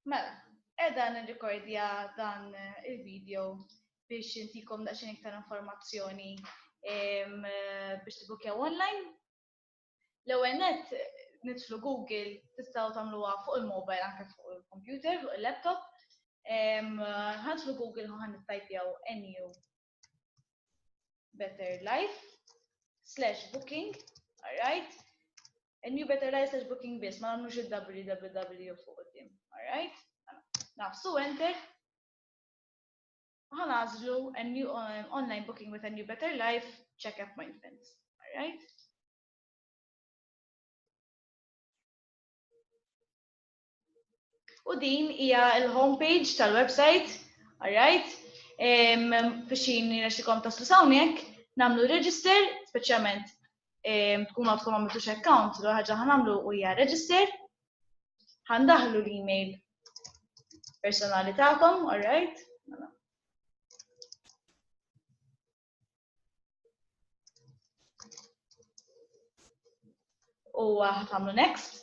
Mela, edha nirrikordja dan il-video biex intikom daqsxejn iktar informazzjoni biex tibukjaw online. L-ewwel net nidħlu Google tistgħu tagħmluha fuq il-mobile anke fuq il-computer, fuq il-laptop. Ħadħlu Google ħan nittajpjaw NU Better Life slash booking, alright? A new Better Life slash booking biss, ma għamlux il-www fuq qoddim, alright? Nafsu enter. Għan għazlu a new um, online booking with a new Better Life check appointments, alright? U din hija l-homepage tal-website, alright? Biex jirnexxikom taslu sawnek, namlu register, speċjalment tkun għadkom għamiltu account, l ħaġa ħanamlu u hija register, ħandaħlu l-email personali tagħkom, alright? U ħatamlu next.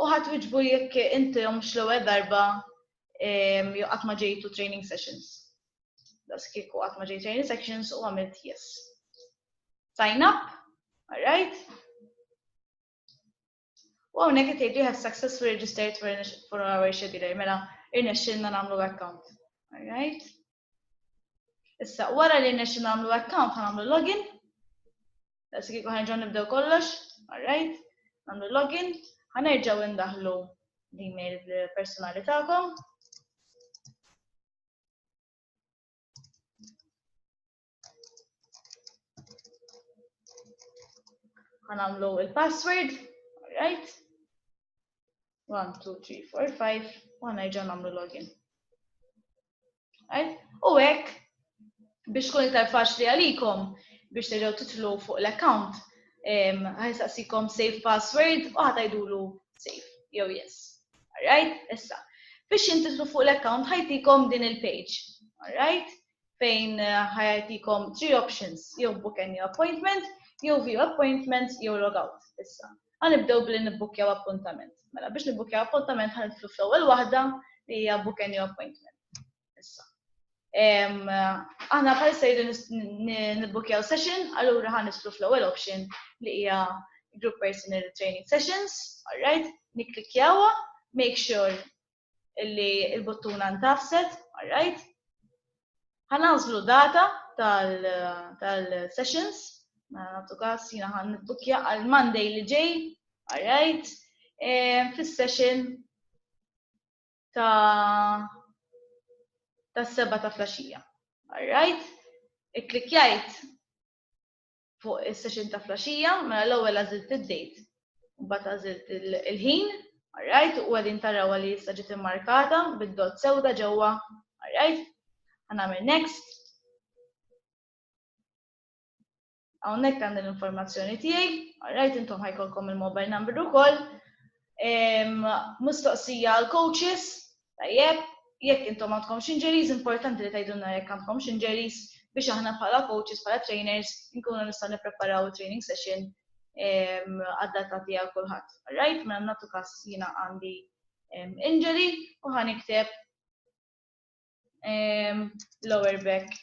U ħadd wiġbu jekk inti mhux l-ewwel darba jew qatt ma ġejtu training sessions. Das kieku qatt ma ġej training sessions u għamilt yes. Sign up, alright? U hawnhekk qed jgħidu have successfully registered for our scheduler, mela irnexxilna nagħmlu account. Alright? Issa, wara li nexxi nagħmlu account nagħmlu login. Issa kieku ħanġaw nibdew kollox, alright, nagħmlu login, ħanerġgħu ndaħlu l-email personali tagħkom. Għanamlu il-password, right? 1, 2, 3, 4, 5, u għana iġan għamlu login. Right? U għek, biex kun iktar faċli għalikom, biex terġaw titlu fuq l-account, għajsaqsikom save password u għatajdulu save, jew yes. Alright, issa. Biex jintitlu fuq l-account ħajtikom din il-page. Alright? fejn ħajatikom three options, jew book a new appointment, jew view appointment, jew log out. Issa, għanibdew billi nibbukkjaw appuntament. Mela biex nibbukkjaw appuntament ħanitlu fl-ewwel waħda li hija book a new appointment. Issa. Aħna bħal sejri nibbukkjaw session, allura ħanitlu fl-ewwel option li hija group personal training sessions, alright, niklikjawa, make sure illi il-buttuna ntafset, alright? Ħanażlu data tal-sessions, mela nagħtu każ jiena ħan nittukja għal Monday li ġej, alright? E, fis-session ta' tas-seba ta' flaxija. Alright? Ikklikjajt fuq is-session ta' flaxija, mela l-ewwel għażilt id-date, mbagħad għażilt il-ħin, alright, u għadin taraw li issa ġiet immarkata bid-dot sewda ġewwa, alright, għanamil next. Hawnhekk għandi l-informazzjoni tiegħi, alright, intom ħajkolkom il-mobile number ukoll. Mistoqsija għal coaches, Tajjeb, jekk intom għandkomx injuries, importanti li tgħidulna jekk għandkomx injuries biex aħna bħala coaches, bħala trainers, nkunu nistgħu nippreparaw il-training session ehm, għad-data tiegħu kulħadd. Alright, ma mela nagħtu każ jiena għandi ehm, injury u ħan ikteb ehm, lower back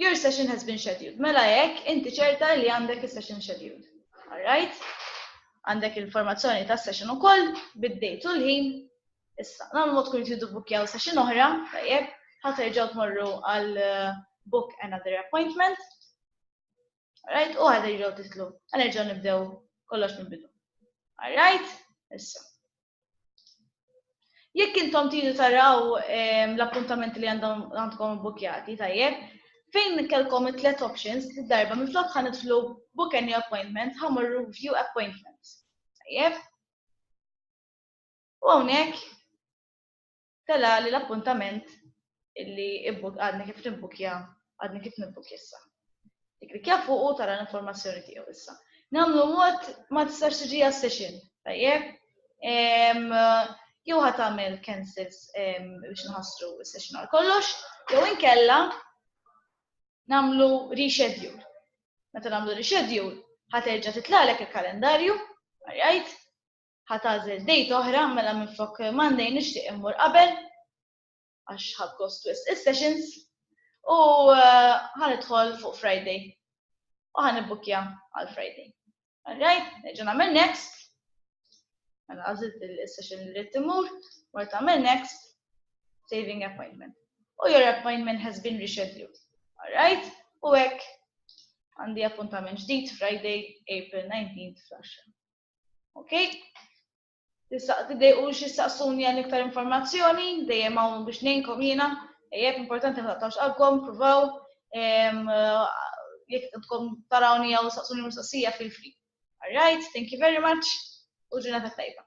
Your session has been scheduled. Mela jekk inti ċerta li għandek is-session scheduled. Alright? Għandek il-formazzjoni ta' session ukoll bid-date u l-ħin. Issa, nagħmlu mod kun jtidu bukjaw session oħra, tajjeb, ħaterġgħu tmorru għal uh, book another appointment. Alright? U ħaterġgħu titlu. Ħanerġgħu nibdew kollox minn bidu. Alright? Issa. Jekk intom tidu taraw ehm, l-appuntamenti li għandkom bukjati, tajjeb, fejn kellkom it-tlet options li darba minn flok ħan idħlu book any appointment, ħamurru view appointment. Tajjeb. U hawnhekk tela' li l-appuntament li għadni kif nibbukkja, għadni kif nibbukkja issa. Tikklikkja fuq u tara l-informazzjoni tiegħu issa. Nagħmlu mod ma tistax tiġi għas-session, tajjeb? Jew ħadd tagħmel cancels biex nħassru s-session għal kollox, jew inkella nagħmlu reschedule. Meta nagħmlu reschedule, ħaterġa' titlalek il-kalendarju, għajt, Ħa tagħżel date oħra mela minflok Monday nixtieq immur qabel għax ħadd gost wisq is-sessions u eh, ħa nidħol fuq Friday u ħa nibbukkja għal Friday. Alright, neġa' nagħmel next. Mela għażilt is-session li rrid imur, mort tagħmel next, saving appointment. U your appointment has been rescheduled. Alright, u hekk għandi appuntament ġdid Friday, April 19 fl-10. Ok? Tidejqu xi saqsuni għal iktar informazzjoni, dejjem hawn biex ngħinkom jiena, jekk importanti ma taqtawx qalbkom, provaw, jekk tkom tarawni jew saqsuni mistoqsija feel free. All right, thank you very much u ġurnata tajba.